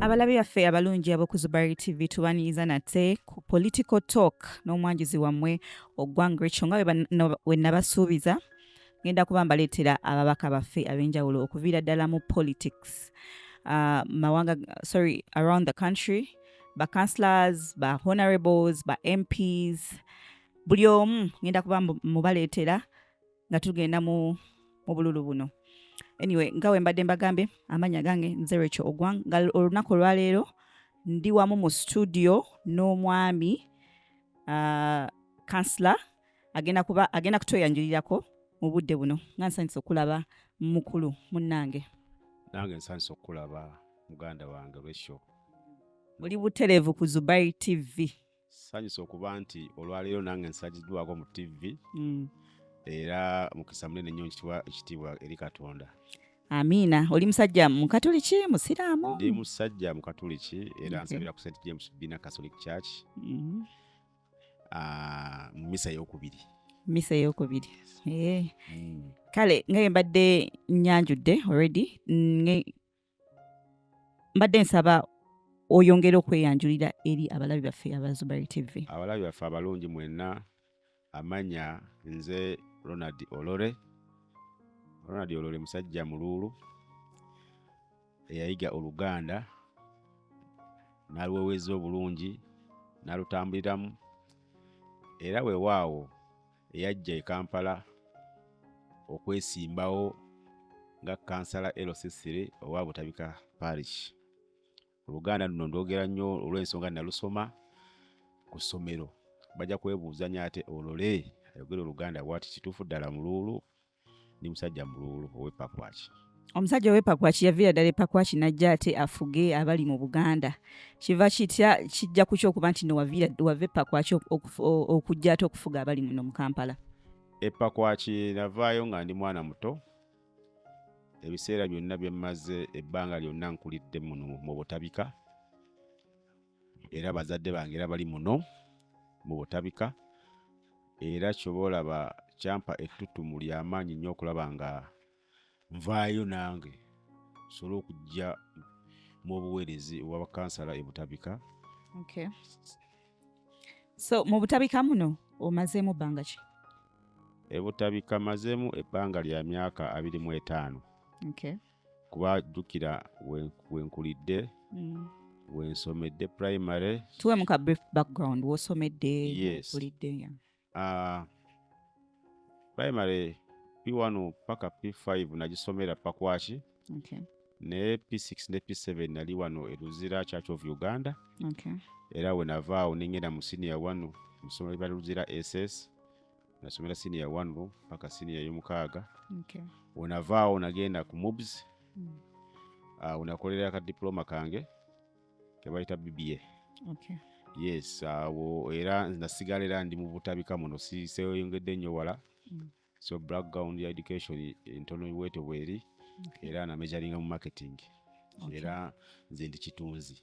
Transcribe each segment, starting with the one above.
abalabi baffe abalungi aboku zubari tv tubanyiiza nate ku political talk n'omwanjuzi wammwe ogwanga ekyo nga we nabasuubiza ngenda kuba mbaleetera ababaka baffe ab'enjawulo okuviira ddala mu politics uh, mawanga sorry around the country ba councilors ba honorables ba mps buli omu ngenda kuba mubaleetera nga tugenda mu obululu buno anyway nga wembadde mbagambye amanya gange nzerekyo ogwang nga olunaku olwaleero ndi wamu mu studio n'omwami uh, kansla agenda kuba agenda kutweyanjulirako mu budde buno nga nsanyusa okulaba mukulu munnange nange nsanyusa okukulaba muganda wange resho muli butereevu ku zubai tv sanyusa okuba nti olwaleero nange nsajiddwako mu ttivi mm. era mukisa munene nnyo nkitibwa ekitiibwa eri katonda amiina oli musajja mukatuliki musiraamu ndi musajja mukatuliki era okay. nsabira ku st james bina catholic church mm-hmm. ah, mu mm -hmm. misa yokubiri misa eyokubiri eh. mm. kale ngaye mbadde nyanjudde already mbadde nsaba oyongere okweyanjulira eri abalabi baffe abazubari tv abalabi baffe abalungi mwenna amanya nze ronald olore ronald olore musajja muluulu eyayiga oluganda naluweweza obulungi nalutambuliramu era wewaawo eyajja e Kampala okwesimbawo nga kansala LC3 owa Butabika Parish. Oluganda luno ndwogera nnyo olw'ensonga nalusoma ku ssomero. Bajja kwebuuzanya ate olole ayogera oluganda bwati kituufu ddala muluulu ndi musajja muluulu owepakwaki omusajja owepakwaki yaviira ddala epakwaki najja ate afuge abali mu buganda kiva kitya kijja ku kyokuba nti nowavira wava epakwaki okujja ate okufuga abali muno mu kampala epakwaki navaayo nga ndi mwana muto ebiseera byonna byemmaze ebbanga lyonna nkulidde muno mu butabika era bazadde bange era bali muno mu butabika era kyoba olaba kyampa ettutumu lyamaanyi nnyo okulaba nga nvaayo nange nsobole okujja mu obuweerezi obwabakansala e butabika okay. so mu butabika muno omazeemu bbanga ki e butabika mazeemu ebbanga lya myaka abiri mu etaano okay. kuba jjukira wenkulidde mm. wensomedde primary tuwe muka brief background wosomedde wenkulidde yes. uh, primary p1 paka p5 nagisomera pakwaki okay. ne p6 ne p7 nali wano eruzira church of uganda okay. era wenavaawo nengenda mu senior wano musomero lya luzira ss nasomera siniya one room paka siniya yomukaaga okay. wenavaawo nagenda ku mobs mm. uh, wenakolera aka diploma kange kebayita bba okay. yes awo uh, era nasigala era ndi mubutabika muno siseyongedde nnyo wala mm. so background ya education entono iweto bweri okay. era namejaringa mu marketing okay. era nze ndi kitunzi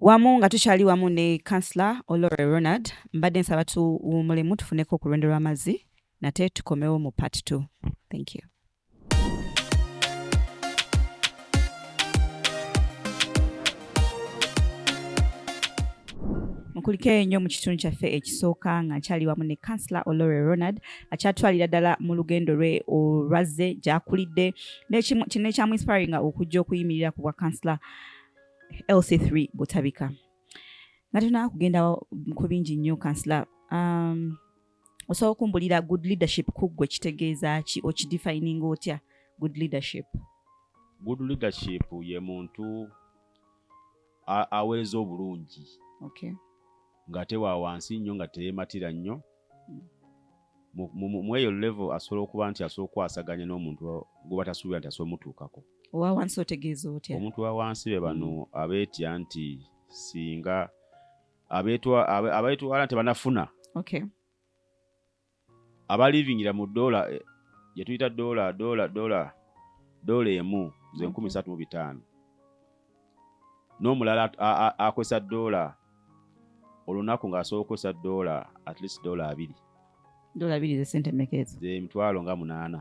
wamu nga tukyali wamu ne councilor olore ronald mbadde nsaba tuwumulemu tufuneko ku lwendo lw'amazzi nate tukomewo mu part 2 thank you mukulike ennyo mu kitundu kyaffe ekisooka nga nkyali wamu ne councilor olore ronald akyatwalira ddala mu lugendo lwe olwazze gyakulidde kino ekyamu inspiringa okujja okuyimirira ku bwa councilor LC3 Butabika nga tuna kugenda ku bingi nnyo kansila um, osobola okumbulira good leadership kuggwe kitegeeza ki okidefininga otya good leadership good leadership ye muntu aweereza obulungi okay. ng'ate wa wansi nnyo nga teyematira nnyo mm. mu eyo level asobola okuba nti asobola okukwasaganya n'omuntu gwoba tasuubira nti asobola mutuukako owa wansi otegeeza otya omuntu wa wansi be bano mm. abeetya nti singa abeetwala nti banafuna abalivingira mu dola eh, gyetuyita dola dola dola dola emu zenkumi satu mu bitaano n'omulala akozesa doola olunaku ng'asobola okukozesa doola at least doola abiri doola abiri zesente meka ezo zemitwalo nga munaana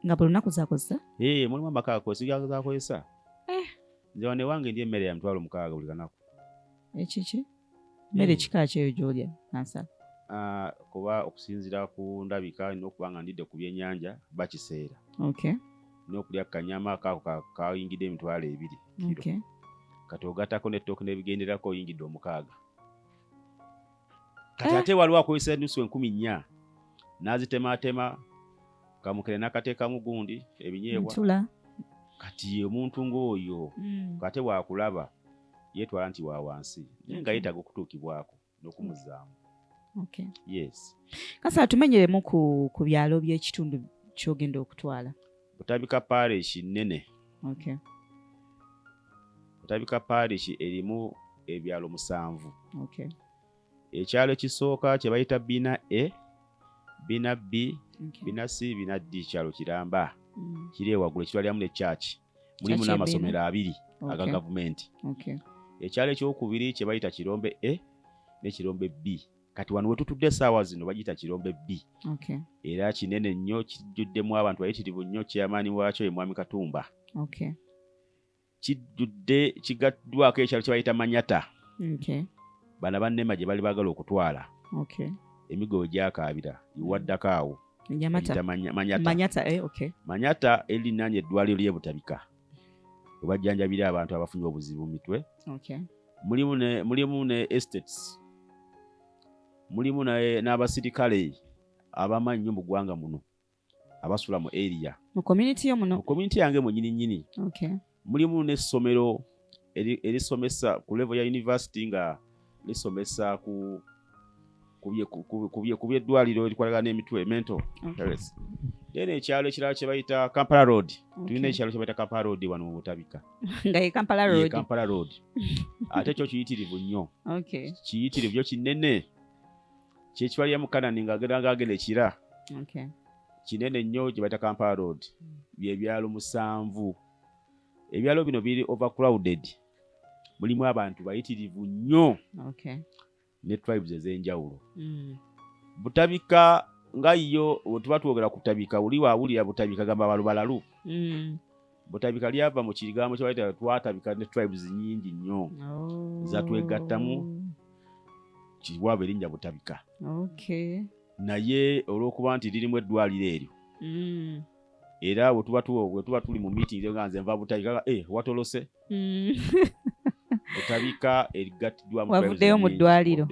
nga buli lunaku zakozesa ee mulimu amaka akozesa eh. nze wanewange ndi emmere ya mitwalo mukaaga buli kanaku ekiki eh, mmere kika kyeyo gyolya nansala ah, kuba okusinzira ku ndabika nina okuba nga ndidde ku byenyanja bakiseera nokulya kanyama kaako kayingidde emitwalo ebiri kati ogatako netooke nebigenderako oyingidde omukaaga kati eh. ate waliwo akozesa enusu enkumi nnya naazitematema kamukere nakateekamu gundi ebinyeebwa ntula kati omuntu ng'oyo mm. ate bwakulaba yetwala nti wa wansi naye nga yetaaga okutuukibwako n'okumuzaamu okay. yes kasa atumenyeremu ku, ku byalo by'ekitundu kyogenda okutwala butabika parishi nnene okay. butabika parishi erimu ebyalo musanvu okay. ekyalo ekisooka kye bayita bina e bina b bina c bina d kyalo kiramba mm. kiri ewaggulu ekitwaliramu ne kyaki mulimu n'amasomero abiri aga gavumenti ekyalo ekyokubiri kye bayita kirombe e ne kirombe b kati wano wetutudde esaawa zino bagiyita kirombe bbi okay. era kinene nnyo kijjuddemu abantu bayitirivu nnyo kyeyamaani waakyo ye mwami katumba okay. kijjudde kigattwaako ekyalo kye bayita manyata bana bannema gye bali baagala okutwala emigo we gyakaabira iwaddako awo manyata eh, manyata erinaanya eddwaliro ly'ebutabika webajjanjabira abantu abafunye obuzibu mu mitwe mulimu ne estates mulimu n'abasirikale abamanyi nnyo mu ggwanga muno abasula mu area mu community yo muno mu community yange mwenyini nyini okay. mulimu n'essomero erisomesa ku level ya university nga lisomesa ku ku byeddwaliro erikwatagana n'emitwe mento health then ekyalo ekirala kyebayita kampala road tulina ekyalo kyebayita kampala road wano mu butabika kampala road ate kyo kiyitirivu nnyo kiyitirivu kyo kinene kyekiwalya mu kanani ngaagenda agenda ekira kinene nnyo gye bayita kampala road byebyalo musanvu ebyalo bino biri overcrowded mulimu abantu bayitirivu nnyo ne tribes ez'enjawulo mm. butabika nga yo wetuba twogera kutabika oli wawulira butabika gamba balubalalu mm. butabika lyava mu kigambo kyebaita twatabika ne tribes nyingi nnyo oh. zatwegattamu kiwaaba erinnya butabika naye olwokuba nti lirimu eddwaliro eryo mm. era wetuba wetuba tuli mu meeting nga nze nva butabika eh, watolose mm. butabika erigattiddwamu wavuddeyo mu ddwaliro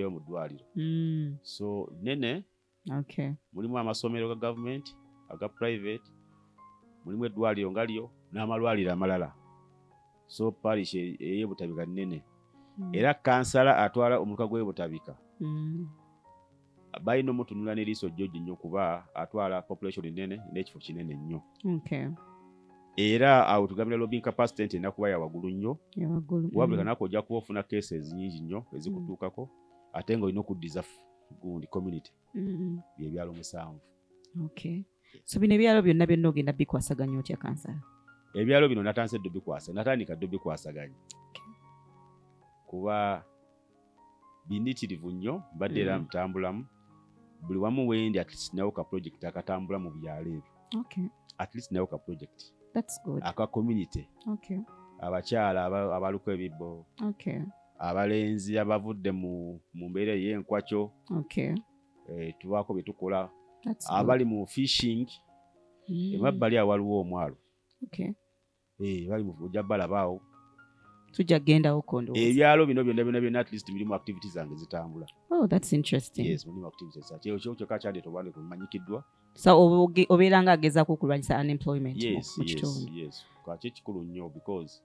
mm. so nene okay. mulimu amasomero ga gavumenti aga private mulimu eddwaliro nga lyo n'amalwaliro amalala so parish e-, eyebutabika nnene mm. era kansala atwala omuluka gw'ebutabika mm. balina omutunula n'eriiso jjoji nnyo kuba atwala population nnene n'ekifo kinene nnyo okay. era awo tugambira lobbying capacity nti enakuba yawagulu nnyo wabuli mm. kanaku ojja kuba ofuna cases nyingi nnyo ezikutuukako mm. ate nga olina okuddiza gundi community mm-hmm. byebyalo musanvu okay so bino ebyalo byonna byonna ogenda bikwasaganya otya kansala ebyalo bino natandise ddo bikwasa natandika ddo bikwasaganya kuba binitirivu nnyo mbadde era mm. ntambulamu buli wamu wendi atleast nawo ka project akatambula mu byalo ebyo atleast nawo ka project aka community abakyala abaluko ebibbo abalenzi abavudde mu mu mbeera ey'enkwakyo okay. eh, tubaako bye tukola That's good. abali mu fishing Mm. emabbali awo waliwo omwalo Okay. Eh, bali mu- ojja balabaawo tujja kugendawo kondo ebyalo bino byonna byonna byonna at least birimu activity zange zitambula oh, that's interesting yes mulimu activity zange Kyo- kyo kyokka kyandi tobande kumanyikiddwa so obe- oge- obeera nga agezaako okulwanyisa unemployment mu- yes mu yes kitundu yes kakyo ekikulu nnyo because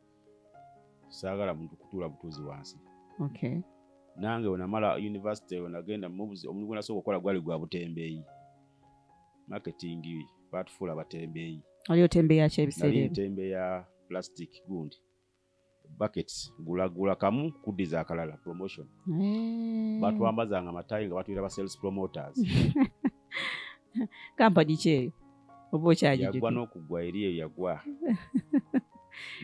saagala muntu kutuula butuuzi wansi okay. nange wenamala univesity wenagenda mubuzi omuntu gwenasooka okukola gwali gwa butembeeyi marketing batufuula abatembeeyi ali otembeeyi akyebiseera otembeeyi ya plastic gundi buckets gulagula kamu kuddiza akalala promotion hey. Eh. batwambazanga matayi nga batuira ba sales promoters kampani ki eyo oba okyagiyagwa n'okugwa eri eyo yagwa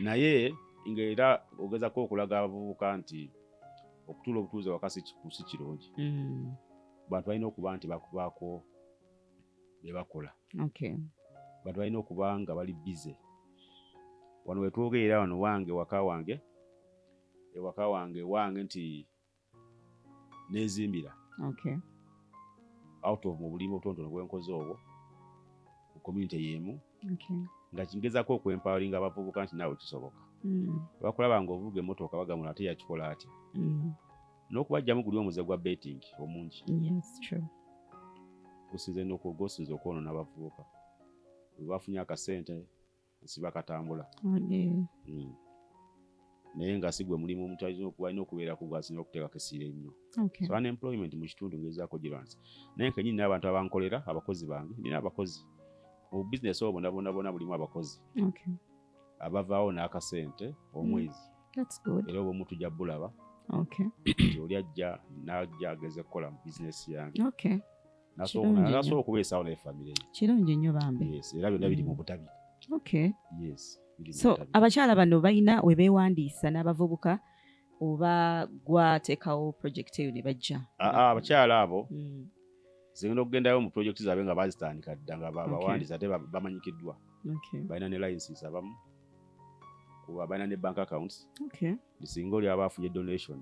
naye ngaera ogezako okulaga abavubuka nti okutuula obutuuze waka si kirungi mm. bantu balina okuba nti bakubaako bebakola bantu balina okuba nga bali bize wano wetwogerera wano wange waka wange ewaka wange wange nti nenzimbira okay. out of mu bulimi obutonotono bwenkoze obwo mu community yemu okay. nga kingezako okwempowering abavubuka nti naawe kisoboka mm. bakulaba nga ovuga emotooka bagamula ate yakikola atya mm. n'okubajjamu guli omuze gwa betting omungi gusinze nokugwosinza okwonona abavubuka webafunye akasente nsiba katambula mm. naye nga sigwe mulimu omuntu alina okubeera ku gwasina okuteekako essira ennyo so unemployment mu kitundu ngezaako girwanisa naye nkenyini n'abantu abankolera abakozi bange nina abakozi mu bizinesi obo bonabonabona bulimu abakozi abavaawo n'akasente omwezi mm. era oba omutujja bulaba nti oli ajja n'ajja ageze kukola mu bizinesi yange nasobola okubeesawo naye famire kirungi nnyo bambi era byonna biri mu butabi okay yes so abakyala bano balina we beewandiisa n'abavubuka oba gwateekawo project eyo ne bajja ah, ah, abakyala abo hmm. zigenda okugendayo mu project zaabwe nga bazitandika dda nga bawandiisa ate bamanyikiddwa balina ne licenses abamu kuba balina ne bank accounts singa oli aba afunye donation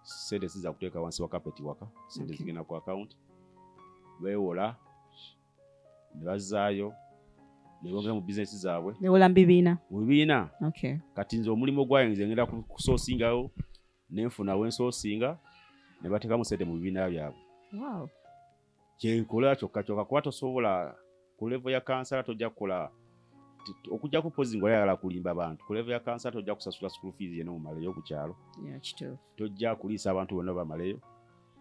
sente siza kuteeka wansi wa kapeti waka sente okay. zigenda ku akawunti beewola ne bazaayo ne bongera mu bizinesi zaabwe newola mu bibiina mu bibiina okay. kati nze omulimu gwayo nze ngenda kusoosingawo nenfuna wensoosinga ne bateekamu sente mu bibiina byabwe wow. kyenkola kyokka kyokka kuba tosobola ku levo ya kansala tojja kukola okujjako pozi nga oyagala kulimba bantu ku levo ya kansala tojja kusasula school fees yena omumaleyo ku kyalo tojja kuliisa abantu bonna bamaleyo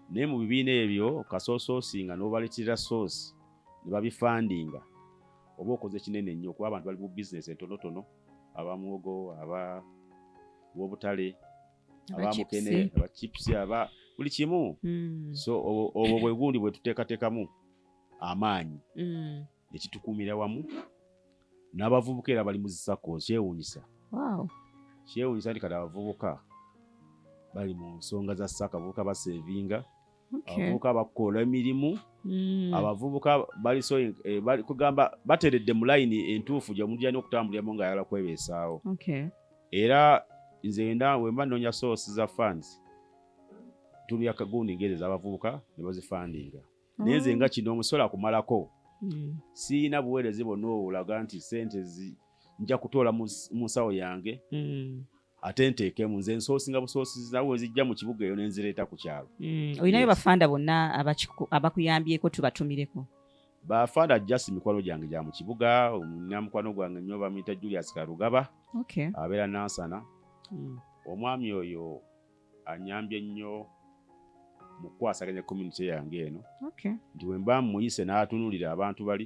naye mu bibiina ebyo kasoosoosinga n'obaleetera soosi ne babifandinga oba okoze kinene nnyo kuba abantu bali mu bizinesi entonotono abamuwogo aba wobutale abamukene aba chips aba buli kimu mm. so obwo bwe gundi bwe tuteekateekamu amaanyi mm. ekitukuumira wamu n'abavubuka era bali muzisako kyewuunyisa kyewuunyisa nti kati abavubuka bali mu nsonga za saka abavubuka basevinga abavubuka bakoola emirimu mm. abavubuka baliso eh, kugamba bateredde mu layini entuufu gyeomuntu gyalina okutambuliramu nga ayala kwebeesaawo era nze enda wemba nnoonya source za funds tumya kagundi ngeri ezabavubuka ne bazifandinga naye nze nga oh. kino omusola kumalako mm. siyina buweereze bonna olaga nti sente nja kutoola mu nsawo yange mm. ate nteekemu nze nsoosinga busoosizi nawe wezijja mu kibuga eyo nenzireeta ku kyalo mm, olinayo bafanda bonna abakuyambyeko tubatumireko bafanda just mikwano gyange gya mu kibuga namukwano gwange nyo bamuyita julius karugaba abeera nansana mm. omwami oyo anyambye nnyo mukukwasaganya community yange eno nti wemba muyise n'atunulira abantu bali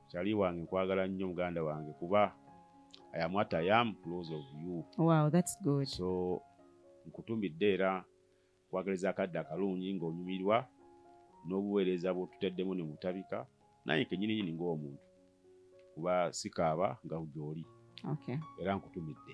Chali wange nkwagala nnyo muganda wange kuba I am what I am close of you. Wow, that's good. So nkutumbidde era kwagaliza akadde akalungi ng'onyumirwa n'obuweereza bw'otuteddemu ne mutabika naye kenyini nyini ng'omuntu kuba sikaaba nga gyoli okay. era nkutumidde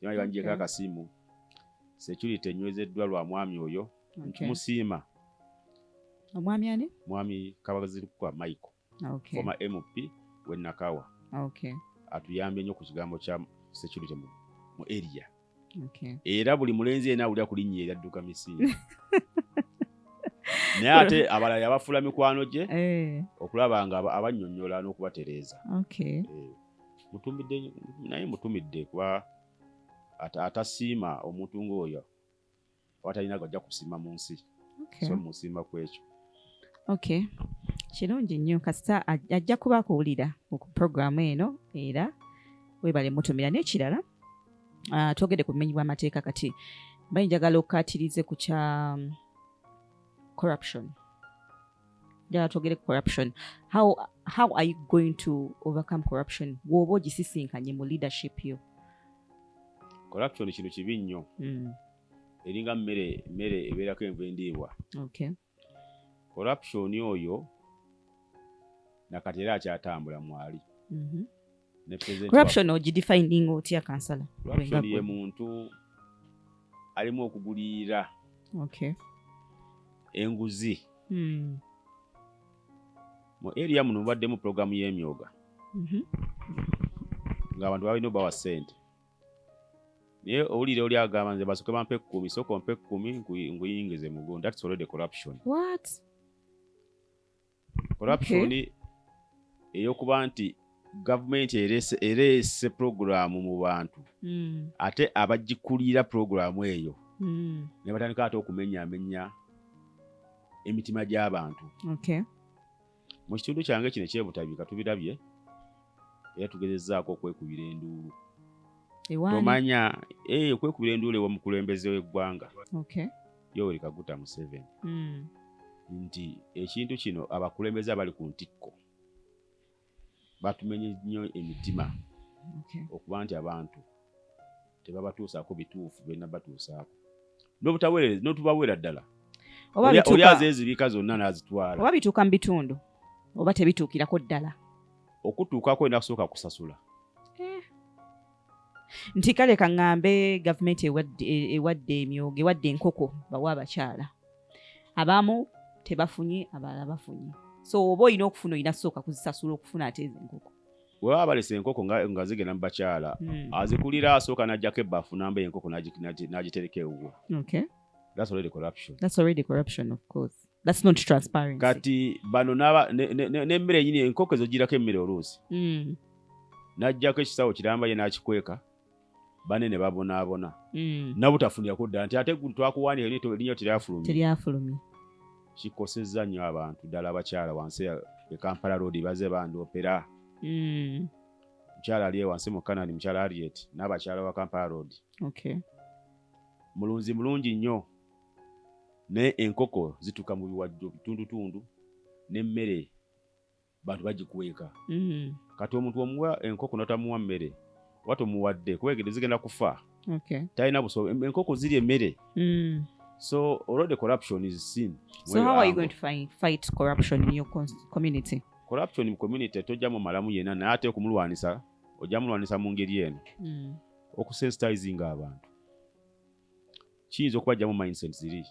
Kyali banjeko Okay. akasimu. Security enywezeddwa lwa mwami oyo. Okay. Ntumusiima omwami ani mwami Kabazirukwa Michael, okay. former MP w'e Nakawa. okay. atuyambye nnyo ku kigambo kya security mu, mu area okay. era buli mulenzi yena awulira ku linnya eryo adduka misingi naye ate abalala yabafuula mikwano gye Eh, okulaba nga aba- abannyonnyola n'okubatereeza okay. Eh, mutumidde naye mutumidde kuba atasiima omuntu ng'oyo abatalina gajja kusiima mu nsi so musiima ku ekyo ok kirungi nnyo kasita ajja kuba akuwulira ku puroguramu eno era webale mutumira n'ekirala ah, twogede ku bumenyi bw'amateeka kati bayinjagala okukatirize ku kya um, corruption njala twogere corruption how, how are you going to overcome corruption bwoba ogisisinkanye mu leadership yo corruption kintu kibi nnyo mm. eringa mmere mmere ebeerako enva endiibwa okay. corruption oyo nakati era akyatambula mwali mm -hmm. corruption ogidefining otya kansala corruption ye muntu alimu okugulirira okay. enguzi hmm. mu area muno mubaddemu pulogulaamu y'emyoga mhm. ngaabantu balina obawa sente naye owulire oli agamba nze basoke bampa ekkumi soka ompa ekkumi nguyingize mugo thats already corruption What? corruption eyokuba nti gavumenti ereese pulogulaamu mu bantu hmm. ate abagikulira pulogulaamu eyo hmm. ne batandika ate okumenyaamenya emitima gy'abantu mu kitundu kyange kino ekyebutabika tubirabye era tugezezaako okwekubira enduulu tomanya eh, okwekubira enduulu ewa mukulembeze w'eggwanga yoweri kaguta museveni mm. nti ekintu kino abakulembeze abali ku ntikko batumenye nnyo emitima okay. okuba nti abantu tebabatuusaako bituufu byonna batuusaako notubaweera ddala oli azezibika zonna nazitwala oba bituuka mu bitundu oba tebituukirako ddala okutuukako olina kusooka kusasula nti kale kaŋŋambe gavumenti ewadde emyoga ewadde enkoko bawa abakyala abamu tebafunye abalala bafunye so oba olina okufuna olina sooka kuzisasula okufuna ate ezo enkoko webaba balesa enkoko nga zigenda mu bakyala hmm. azikulira asooka najjako ebbafu namba enkoko n'agitereka ewuwo that's already corruption that's already corruption of course That's not transparency. Kati bano naba nemmere ne, ne, ne enkoko ezo girako emmere oluusi mm. najjako ekisawo kiramba ye nakikweka bane ne babonaabona mm. nabutafunira kudda nti ate twakuwandika linya teryafulumye kikosezza nnyo abantu ddala abakyala wansi e kampala road baze bandiopera mm. mukyala ali ewansi mu canani mukyala ariet n'abakyala wa kampala road okay. mulunzi mulungi nnyo naye enkoko zituka mu biwajjo bitundutundu nemmere bantu bagikweka mm. kati omuntu omuwa enkoko notamuwa mmere oba tomuwadde kuba egede zigenda kufa talina buso enkoko ziri emmere mm. so already corruption is seen so how are you going to fight, fight corruption in your community corruption mu community tojja mu malamu yena naye ate okumulwanisa ojja mulwanisa mu ngeri eno mm. okusensitizing abantu kiyinza okubajjamu mindset ziri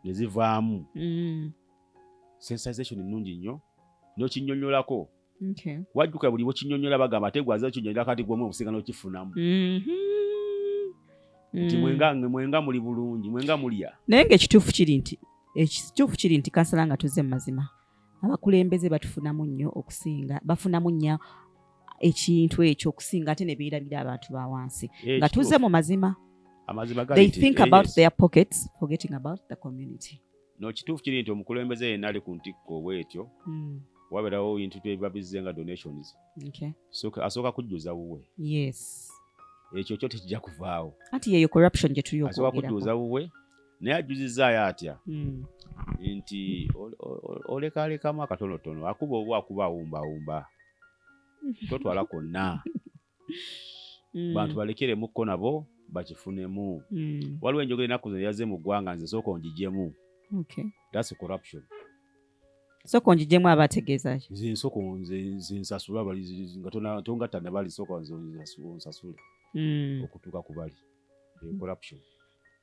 ne zivaamu mm. sensization nnungi nnyo n'okinyonyolako wajjuka buli bwekinyonyola bagamba ate gwaza okinyonyola kati gwomu okusinga n'okifunamu mm-hmm. nti mm. mwenga muli bulungi mwenga mulya naye ngaekituufu kiri nti ekituufu kiri nti kansala nga tuze mu mazima abakulembeze batufunamu nnyo okusinga bafunamu nnyo ekintu ekyo okusinga ate ne beerabira abantu ba wansi eh, nga tuze mu mazima they think eh, about their pockets forgetting about the community no kituufu kiri nti omukulembeze yenna ali ku ntikko obwetyo hmm. wabeerawo bintu tebiba bizze nga donations asooka kujjuza wuwe ekyo kyo tekijja kuvaawo anti yeyo corruption gye tuli okwogerako asooka kujjuza wuwe naye ajuzizaayo atya hmm. nti olekalekamu akatonotono akuba oba akuba awumbawumba totwala konna hmm. bantu balekeremukko nabo bakifunemu hmm. waliwo enjogera enaku zino yaze mu ggwanga nze sooka onjijemu thats corruption sooka onjijemu aba ategeezaki nze nsooka nze nsasula bali nga tongatta nabali sooka nze onsasule okutuuka ku bali corruption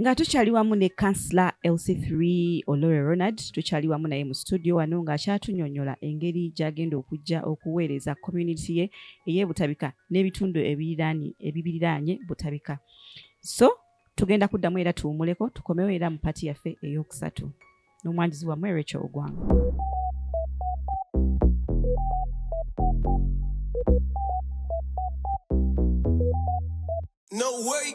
nga tukyali wamu ne kansila lc3 olore ronald tukyali wamu naye mu situdio wano ng'akyatunyonyola engeri gy'agenda okujja okuweereza community ye ey'ebutabika n'ebitundu ebibiriraanye butabika so tugenda kuddamu era tuwumuleko tukomewo era mu pati yaffe ey'okusatu n'omwanjuzi wammwe Rachel Ogwanga. No way.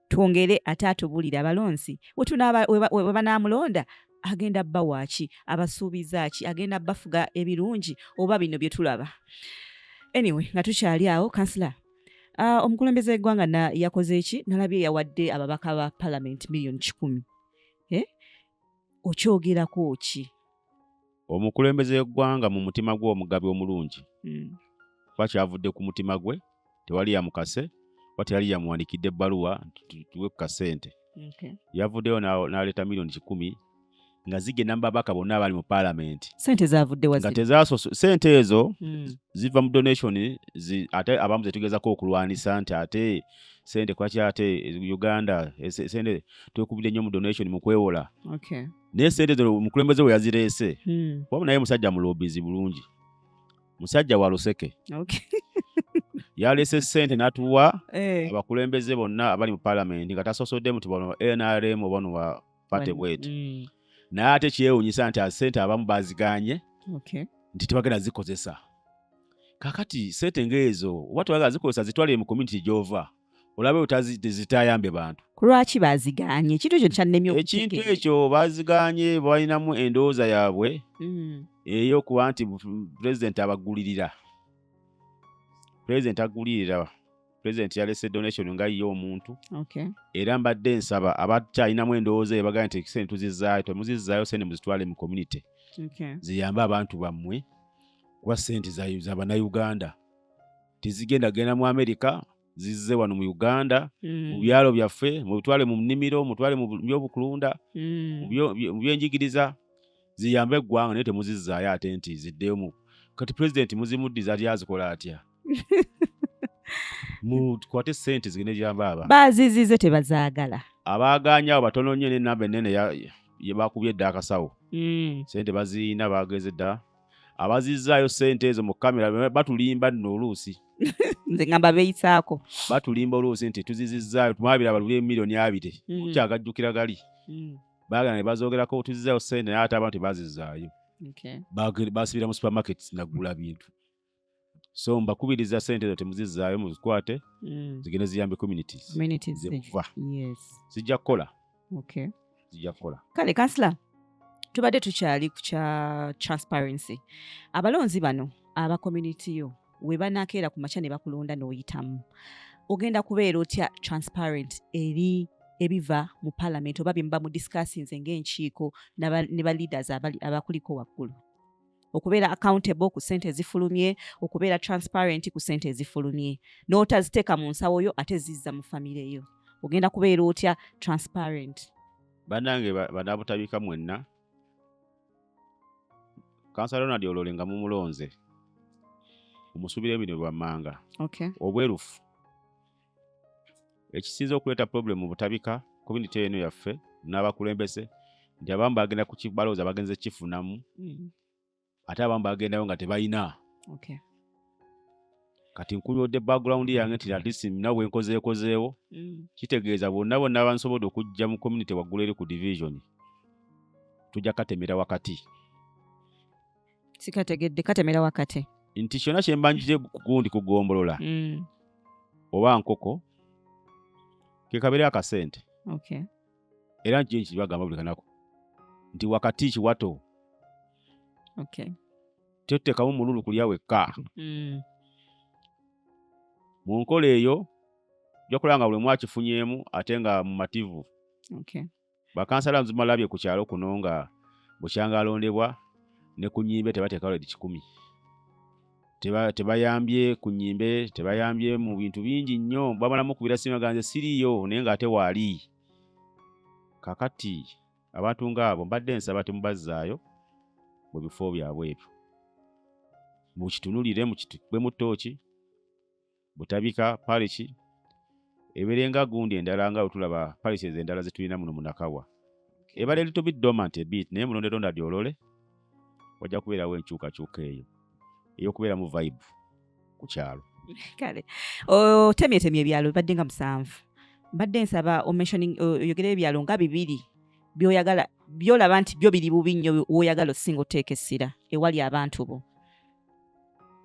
twongere ate atubulire abalonzi webanaamulonda agenda bba waaki abasuubiza ki agenda bafuga ebirungi oba bino bye tulaba anyway nga tukyali awo kansila uh, omukulembeze w'eggwanga yakoze ki nalabye yawadde ababaka ba palamenti miliyoni kikumi eh? okyogerako ki omukulembeze w'eggwanga mu mutima gwe omugabi omulungi hmm. kuba kyavudde ku mutima gwe tewali yamukase oba tewali yamuwandikidde ebbaluwa tuwe ku kasente yavuddeyo n'aleeta miliyoni kikumi nga zigenda mu babaka bonna abali mu palamenti sente ezo hmm. ziva mu donation ate abamu zetugezako okulwanisa nti ate sente kwaki ate uganda sente twekubidde nnyo mu donation mu kwewola naye sente zino omukulembeze we yazireese hmm. wabula naye musajja mulobizi bulungi musajja wa luseke yaleese sente natuwa eh. abakulembeze bonna abali mu palamenti nga tasosoddemu ti bano nrm obano wa pate bweti hmm. naye ate kyewunyisa nti sente abamu baziganye nti tebagenda zikozesa kakati sente ngaezo oba tebagala zikozesa zitwale mu community gyova olabe utazitayambe bantu kulwaki baziganye ekintu ekyo kyannemye ekintu ekyo baziganye balinamu endowooza yaabwe mm. eyokuba nti pulezidenti abagulirira pulezidenti agulirira pulezidenti yalese donation nga ye omuntu okay. era mbadde nsaba abakyalinamu endowooza ebagaa nti ekisente tuzizaayo temuzizaayo sente muzitwale mu community okay. ziyambe abantu bammwe kuba sente za banauganda tezigenda genda mu amerika zizze wano mu uganda mm. mu byalo byaffe mubitwale mu nnimiro mutwale mu byobukulunda mm. mu byenjigiriza ziyambe eggwanga naye temuzizzaayo ate nti ziddeyo mu kati pulezidenti muzimuddiza ali azikola atya mukwate sente zigende gyamba aba bazizize tebazaagala abaagaanyawo batono nnyo nenamba enene yebakubye edda akasawo mm. sente baziina baageze dda abazizzaayo sente ezo mu kamera batulimba nno oluusi nze ngamba beyisaako batulimba oluusi nti tuzizizzaayo mwabira baluli emiliyoni abiri mm. kyagajjukira gali mm. bagana ne bazoogerako otuzizzaayo sente naye ate abantu bazizzaayo basibira mu supermarkets nagula bintu so mbakubiriza sente ezo temuzizaayo muzikwate mm. zigende ziyambe communities zekuva zijja kukola zijja kukola kale kansila tubadde tukyali ku kya transparency abalonzi bano aba community yo webanakeera ku makya ne bakulonda n'oyitamu ogenda kubeera otya transparent eri ebiva mu palamenti oba byemuba mu discussinze ngaenkiiko ne ba leaders abakuliko waggulu okubeera accountable ku sente ezifulumye okubeera transparent ku sente ezifulumye n'otaziteeka mu nsawo yo ate zizza mu famire yo ogenda kubeera otya transparent banange banabutabika mwenna kansa ronald olole nga mumulonze omusubira ebino bwammanga okay. obwerufu ekisinze okuleeta problem mu butabika community eno yaffe n'abakulembeze nti abamu bagenda balowooza bagenze kifunamu mm. ate abamu bagendayo nga tebalina kati nkubyodde background yange nti atleast nawe nkozeekozeewo mm. kitegeeza bonna bonna bansobodde okujja mu community waggulu eri ku division tujja katemera wakati sikategedde katemera wakati nti kyona kyembanjije kugundi kugombolola mm. oba nkoko kekabeera akasente okay. era nkiyo nkibagamba buli kanaku nti wakati kiwato okay. tetekamu mululu kulya wekka mm. mu nkola eyo ojakulaba nga buli mwakifunyemu ate nga mumativu okay. bakansala nzimalabye ku kyalo kuno nga bukyanga alondebwa ne ku nyimbe tebateeka lwedi kikumi tebayambye ku nyimbe tebayambye mu bintu bingi nnyo bamalamu kubira sima ganze siriiyo naye ng'ate waali kakati abantu ng'abo mbadde nsaba temubazzaayo mu bifo byabwe ebyo mukitunulire mukitube mu tooki butabika paliki eberenga gundi endala nga wetulaba paliki ezo endala zetulina muno munakawa ebale little bit dormant ebit naye mulonde londa dyolole wajja kubeerawo enkyukakyuka eyo eyokubeeramu vibe ku kyalo kale otemyetemye ebyalo bibadde nga musanvu mbadde nsaba oyogere ebyalo nga bibiri byoyagala byolaba nti byo biri bubi nnyo woyagala osinga oteeka essira ewali abantu bo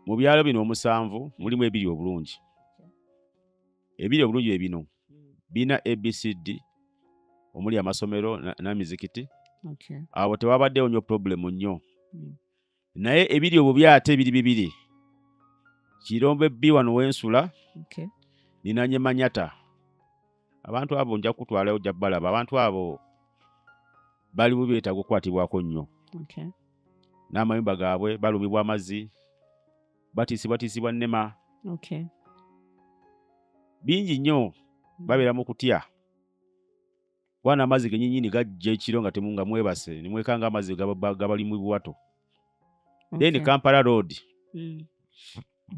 mu byalo bino omusanvu mulimu ebiri obulungi ebiri obulungi bye bino birina abcd omuli amasomero n'emizikiti abo tewabaddewo nnyo purobulemu nnyo hmm. naye ebiri obubi ate ebiri bibiri kirombe bbi wano wensula ninanye manyata abantu abo nja kukutwalayo ojja balaba abantu abo bali mu byetaaga okukwatibwako nnyo okay. n'amayumba gaabwe balumibwa amazzi batiisibwatiisibwa nnema okay. bingi nnyo mm. babeera mu kutya kuba n'amazzi genyinyini gajja ekiro nga temu nga mwebase nimwekanga amazzi gabali mu buwato then okay. kampala road mm.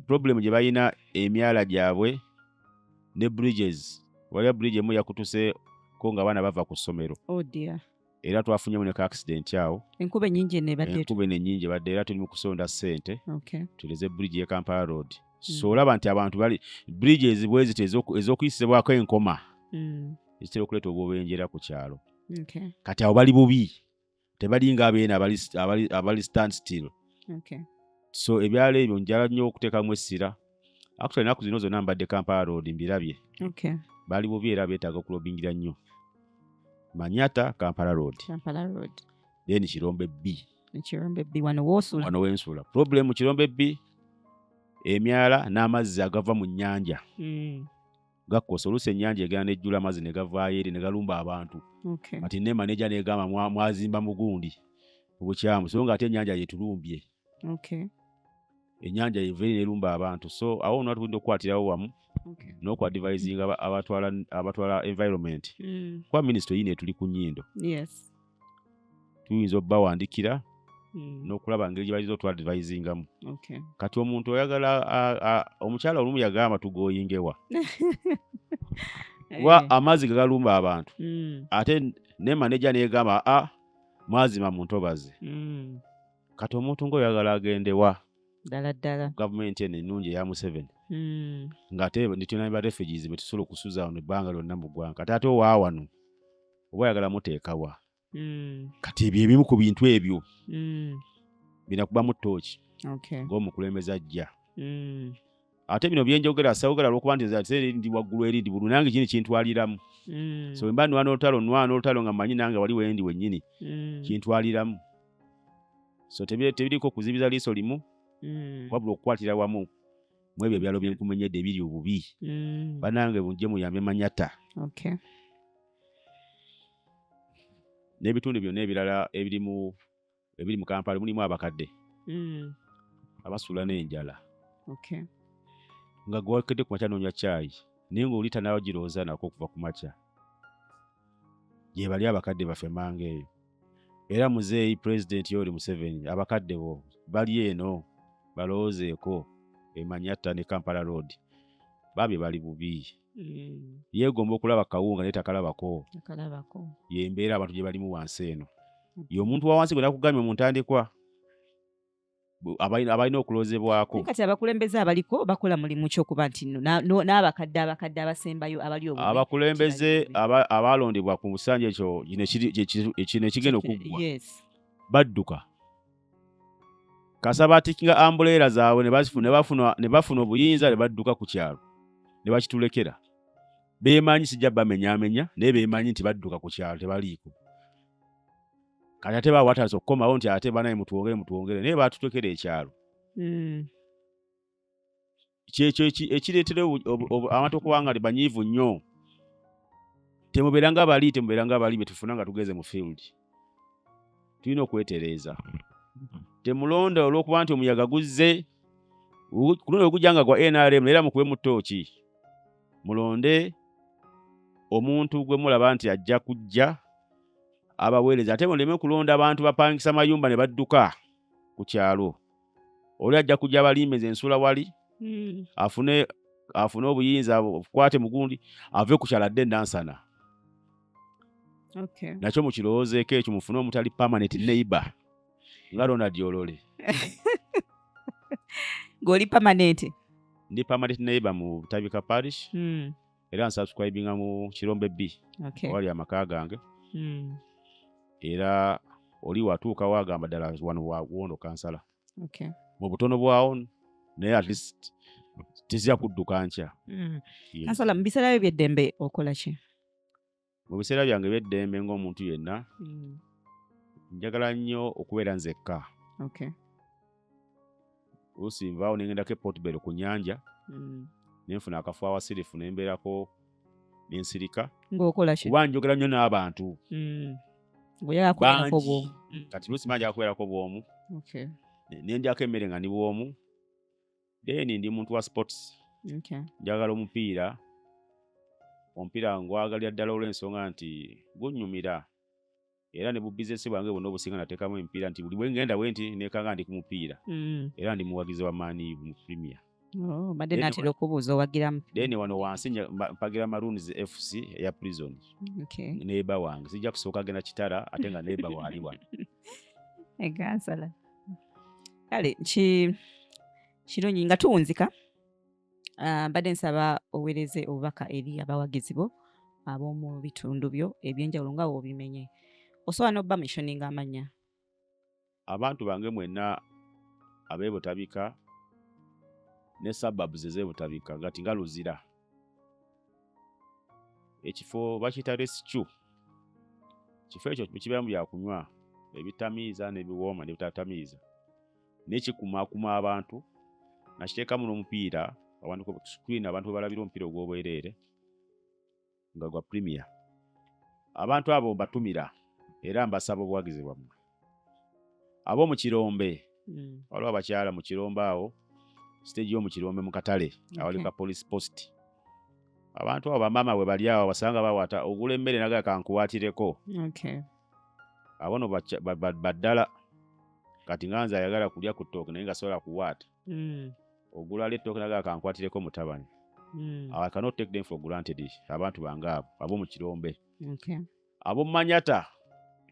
problem gye balina emyala gyabwe ne bridges waliwo bridge emu yakutuseko nga abaana bava ku ssomero oh era twafunyemu ne ka accident awo enkuba enyingi enkuba eno enyingi ebadde era tuli mu kusonda ssente tuleze bridge ye kampala road hmm. so olaba nti abantu bali bridge ezibwezito ez'okuyisibwako enkoma hmm. ezitera okuleeta obwobenjera ku kyalo kati awo bali bubi tebalinga abeena abali, abali, abali stand still okay. so ebyalo ebyo njala nnyo okuteekamu essira actually enaku zino zonna mbadde kampala road mbirabye okay. bali bubi era beetaaga okulobingira nnyo manyata kampala road kampala road then kirombe b kirombe b wano wosula wano wensula problem kirombe b emyala n'amazzi agava mu nnyanja mm. gakkosa oluusi ennyanja egera nejjula amazzi ne gavaayo eri ne galumba abantu kati ne maneja negamba mwazimba mugundi obukyamu so nga ate ennyanja yetulumbye ennyanja yeva eri nelumba abantu so awo ona tulina okukwatirawo wamu n'okuadivisinga abatwala environment mm. kuba minisito yina etuli ku nyindo tuyinza obawandikira mm. nokulaba ngeri gyebayinza otuadvisingamu okay. kati omuntu oyagala omukyala olumu yagamba tugoyingewa kuba eh. amazzi gegalumba abantu mm. ate nemaneja negamba a ah, mwazima muntobazi mm. kati omuntu ngaoyagala agendewa ddala ddala gavumenti eno ennungi eya museveni hmm. ng'ate nitulina ba refugees betusobola okusuza wano ebbanga lyonna mu ggwanga kati ate owaawano oba oyagala muteekawa mm. kati ebyo ebimu ku bintu ebyo mm. bina kubamu tooki okay. ng'omukulembeze ajja mm. ate bino byenjogera sawogera lwokuba nti ate ndi waggulu eri ndi bulu nange kini kintwaliramu mm. so wemba nwana olutalo nwana olutalo nga manyi nange wali wendi wennyini mm. kintwaliramu so tebiriko kuzibiza liiso limu mm. wabula okukwatira wamu mwebyo ebyalo byenkumenyedde ebiri obubi mm. banange bunje muyambe manyata okay. n'ebitundu byonna ebirala ebirimu ebiri mu kampala mulimu abakadde mm. abasuula n'enjala nga gwewakedde ku makya noonya caayi naye ngaoli tanaaba girowooza nako okuva ku makya gyebali abakadde baffe manga eyo era muzeeyi pulezidenti yooli museveni abakadde bo bali eno balowoozeeko emanyatta ne kampala road bambi bali bubi mm. yeegomba okulaba kawunga naye takalabako yembeera abantu gye balimu wansi eno mm. ye omuntu wawansi gwe nakugamye mu ntandikwa abalina okulozebwako kati abakulembeze abaliko bakola mulimu kyokuba nti n'abakadde abakadde abasembayo abali abakulembeze abaalondebwa ku busanja ekyo kino ekigenda okuggwa badduka kasa batikinga ambuleera zaabwe ne bafuna obuyinza ne badduka ku kyalo ne bakitulekera beemanyi sijja bamenyamenya naye beemanyi nti badduka ku kyalo tebaliiko kati ate bawataza okukomawo nti ate banaye mutwongere mutwongere naye batutekera ekyalo hmm. kyekyo ekireetera abantu okuba nga banyiivu nnyo temubeeranga bali temubeeranga bali betufuna nga tugeze mu field tulina okwetereeza temulonda olwokuba nti omuyaga guzze kuluno ogujja nga gwa nrm era mukube mu tooki mulonde omuntu gwe mulaba nti ajja kujja abaweereza ate muleme kulonda abantu bapangisa mayumba ne badduka ku kyalo oli ajja kujja abalimbe nze nsula wali hmm. afune afune obuyinza kwate mugundi ave ku kyala dde nansana okay. nakyo mukirowoozeeko ekyo mufune omutali permanent neighbor nga ronald olole ng'oli permanent ndi permanent neighbor mu butabika parish hmm. era nsubscribinga mu kirombe b okay. wali amaka gange mm. era oli watuuka wagamba ddala wano wawondo kansala okay. mu butono bwawo naye at least tezija kudduka nkya mm. kansala mu biseera byo byeddembe okola ki mu biseera byange ebyeddembe ng'omuntu yenna mm. njagala nnyo okubeera nzekka oluusi nvaawo nengendako epotbel ku nyanja mm. nenfuna akafu awasirifu nembeerako nensirika kuba njogera nnyo n'abantu mm. bangi kati luusi manjaga kubeerako bwomu nendyako emmere nga ni bwomu then ndi muntu wa sports okay. njagala omupiira omupiira ngwagalira ddala olw'ensonga nti gunyumira era ne bubizinesi bwange bwonna obusinga nateekamu emipiira nti buli bwengenda bwe nti nekanga ndi ku mupiira mm. era ndi muwagizi wa maani mu premier oh, badde natera okubuuza owagiramu then wano wansi mpagira maroons fc eya prison okay. neeba wange sijja kusooka genda kitara ate nga neeba waali wano egansala kale kirungi nga tuwunzika ah, mbadde nsaba owereze obubaka eri abawagizi bo ab'omu bitundu byo ebyenjawulo nga wobimenye osobola n'obba mishoninga amanya abantu bange mwenna abebutabika ne suburbs ezebutabika ngati nga luzira ekifo bakiyita rescu kifo ekyo kibeeramu byakunywa ebitamiiza nebiwooma nebitatamiiza naye kikumakuma abantu nakiteekamu n'omupiira screen abantu webalabira omupiira ogw'obwereere nga gwa premier abantu abo mbatumira era mbasaba obuwagizi bwammwe abo mu kirombe mm. waliwo abakyala mu kirombe awo stage yo mu kirombe mu katale awali ka police post abantu abo bamaama bwe bali awo basanga bawata ogula emmere naga kankuwatireko abo no baddala kati nga nze ayagala kulya ku ttooke naye nga sobola kuwaata mm. ogulala ettooke naga kankwatireko mutabani mm. i cannot take them for granted abantu bange abo abo mu kirombe abo manyata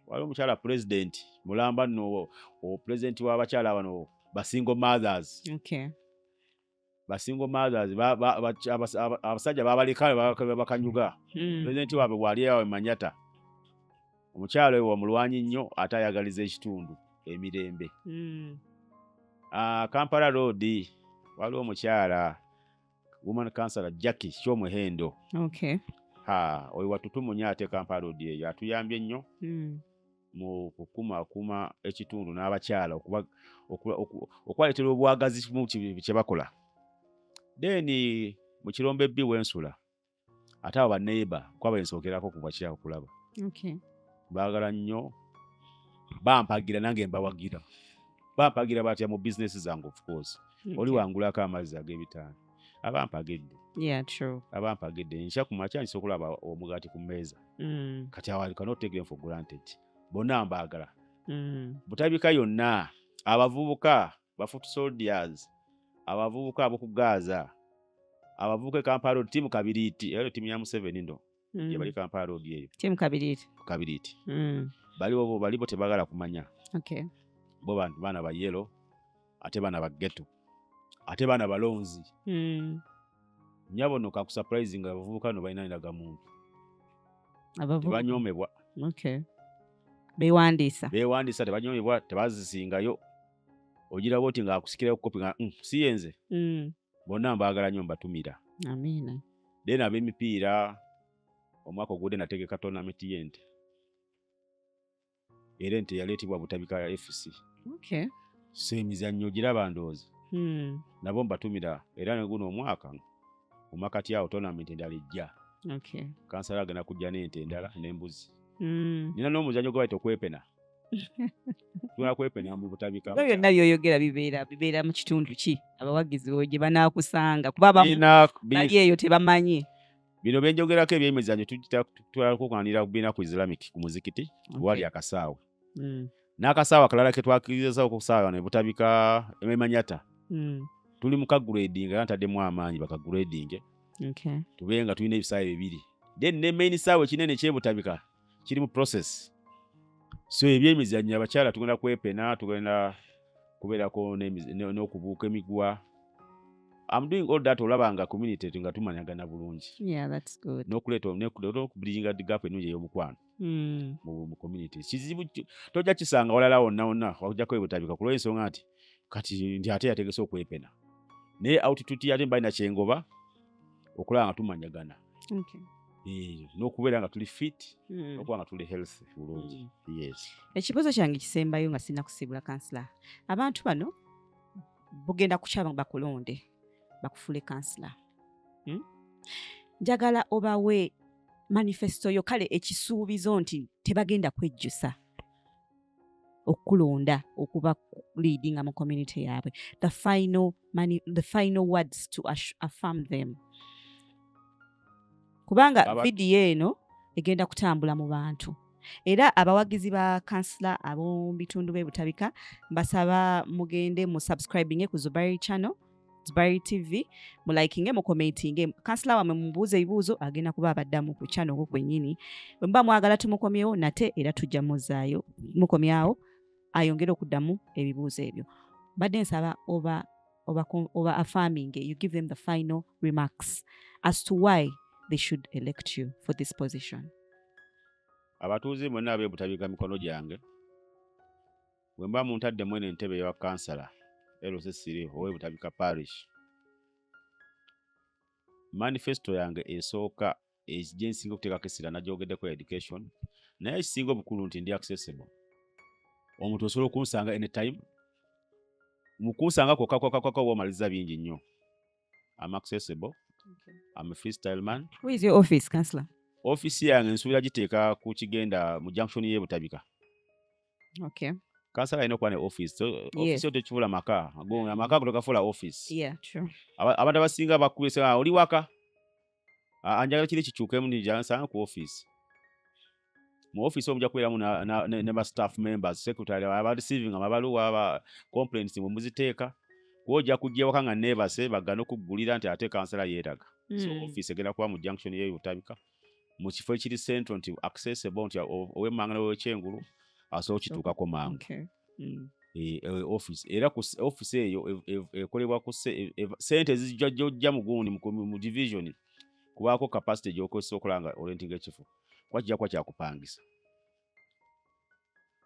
waliwo omukyala president mulamba no president wabakyala bano basingle mothers okay. basingle mothers abasajja babaleka bakanyuga hmm. president wabwe wali awe manyata omukyala oyo wamulwanyi nnyo ate ayagaliza ekitundu emirembe hmm. ah, kampala road waliwo omukyala woman councilor jacki kyomuhendo okay. ha oyo watutumunya ate kampala odi eyo atuyambye nnyo mm. mu kukumaakuma ekitundu n'abakyala okwaleetera obwagazi kyebakola then mu kirombe bbi wensula ate abo baneiba kuba bensookerako kuva kyawo kulaba baagala nnyo bampagira nange mbawagira bampagira batya mu bizinesi zange ofcourse oli wangulako amazzi ag'ebitaano abampagedde abampagedde nkya ku makya nsobola okulaba omugaati ku mmeeza mm. kati awo cannot take them for granted bonna mbaagala mm. butabika yonna abavubuka bafoot soldiers abavubuka aboku gaza abavubuka e kampala road timu kabiriiti ero timu ya museveni ndo mm. yebali kampala road eyo timu kabiriiti kabiriiti mm. baliwo bo balibo tebagala kumanya okay. bo bantu baana ba yelo ate baana ba geto ate baana balonzi mm. nyabo no kakusuprise nga abavubuka no balina ndaga muntu tebanyomebwa okay. bewandiisa bewandiisa tebanyomebwa tebazisingayo ogira bwoti nga akusikirayo kopi nga mm, si yenze mm. bonna mbaagala nyo mbatumira amiina then ab'emipiira omwaka ogude nategeka tournament yente era ente yaleetebwa butabika ya fc okay. so emizannyo giraba ndoozi hmm. nabo mbatumira era neguno omwaka mumakati awo tournament endala ejja okay. kansala agenda kujja n'ente endala n'embuzi hmm. nina n'omuzannyo gwe bayita okwepena ebyo byonna byoyogera bibeera bibeera mu kitundu ki abawagizi bo gye banaakusanga kuba bali eyo tebamanyi bino byenjogerako ebyemizanyo tulakukanira kubiina ku islamic ku muzikiti wali akasaawe hmm. n'akasaawe akalala ke twakirizawo okusaawa ne butabika emanyata hmm. tuli mu kagrading era ntaddemu amaanyi bakagradinge tube nga tulina ebisaawe bibiri then ne main saawe kinene kyebutabika kiri mu process so ebyemizannyo abakyala tugenda kwepena tugenda kubeerako n'okubuuka emigwa I'm doing all that olaba nga community nga tumanyagana bulungi yeah, that's good. nokuleeta nokubulinga gap enungi ey'omukwano mm. mu community kizibu tojja kisanga walala wonna wonna wakujjako ebutabika kulwa ensonga nti kati ndi ate yategese okwepena naye outituti yate mbalina kyengoba okulaba nga tumanyagana eh, n'okubeera nga tuli fit hmm. okuba nga tuli health bulungi hmm. yes ekibuuzo kyange kisembayo nga sirina kusiibula kansila abantu bano bugenda kukyaba bakulonde bakufule kansila hmm? njagala obawe manifesto yo kale ekisuubizo nti tebagenda kwejjusa okukulonda okuba leadinga mu community yaabwe the final, money, the final words to affirm them kubanga vidiyo eno egenda kutambula mu bantu era abawagizi ba kansila ab'omu bitundu b'e butabika mbasaba mugende mu subscribinge ku zubairi channel Dubai TV mu likinge mu commentinge kansila wamwe mubuuze ebibuuzo agenda kuba abaddamu ku channel ku kwenyini bwe muba mwagala tumukomyewo nate era tujja muzaayo mukomyawo ayongere okuddamu ebibuuzo ebyo mbadde nsaba oba oba oba affirming you give them the final remarks as to why they should elect you for this position abatuuze mwena abebutabika mikono gyange bwe mba muntadde mwene entebe ewa kansala lc siri owe butabika parish manifesto yange esooka gye nsinga okuteekako essira nagyogeddeko education naye ekisinga obukulu nti ndi accessible omuntu osobola okunsanga anytime mukunsanga kwokakokakoko oba omaliza bingi nnyo am accessible am free style man Who is your office, counselor? office yange nsuubira giteeka ku kigenda mu junction y'ebutabika okay kansala alina okuba ne office office yo tekifula maka gonga maka ago togafuula office yeah true abantu abasinga bakubisa ah, oli waka ah, anjagala kiri kikyukemu njansanga ku office mu office omuja kubeeramu ne ba staff members secretary aba receiving amabaluwa aba complaints mwe muziteeka kuoja kujja ewaka nga neebase bagana okugulira nti ate kansala yeeraga so mm. office egenda kuba mu junction yeyo otabika mu kifo ekiri central nti accessible nti owemmanga newekyengulu asobola okituukako mangu okay. mm. Eh, eh, office era ku office eyo ekolebwa ku e, e, sente zijja jojja mu gundi mu division kubaako capacity gyokozesa okola nga orentinga ekifo kuba kijja kuba kyakupangisa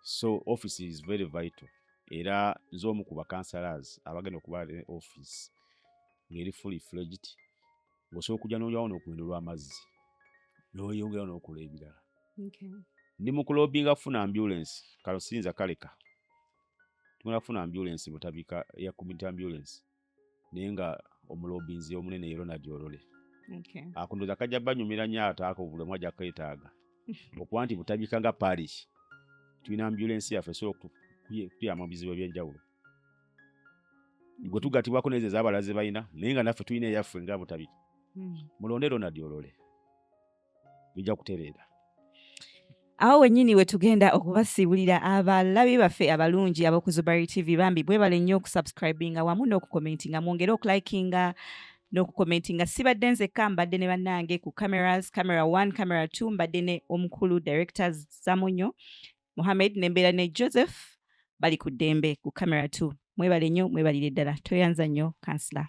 so office is very vital era nze omu ku bakansalas abagenda okuba ne office ngeri fully fledged osobola okujja noyawo nokumendo lwamazzi noyongerawo nokola ebirala ndi mukulobinga kufuna ambulance kalusinza kaleka tugenda kufuna ambulance butabika ya community ambulance naye nga omulobinzi omunene ye Ronald Olole okay. akundoza kajja banyumira nnyo ate ako bulemu ajja kwetaaga okuba nti butabika nga parish tulina ambulensi yaffe so tuyama mu bizibu ebyenjawulo gwe tugatibwako nezo ezabalaze balina naye nga naffe tulina eyaffe nga butabika hmm. mulonde Ronald Olole bijja kutereera awo wenyini wetugenda okubasiibulira abalabi baffe abalungi abokuzubari tv bambi bwebale nnyo okusubscribinga wamu n'okukomentinga mwongere okulikinga n'okukomentinga sibadde nzekka mbadde ne bannange ku cameras camera 1 camera 2 mbadde ne omukulu director zamunyo muhammed nembeera ne joseph bali ku ddembe ku camera 2 mwebale nnyo mwebalire ddala toyanza nnyo kansila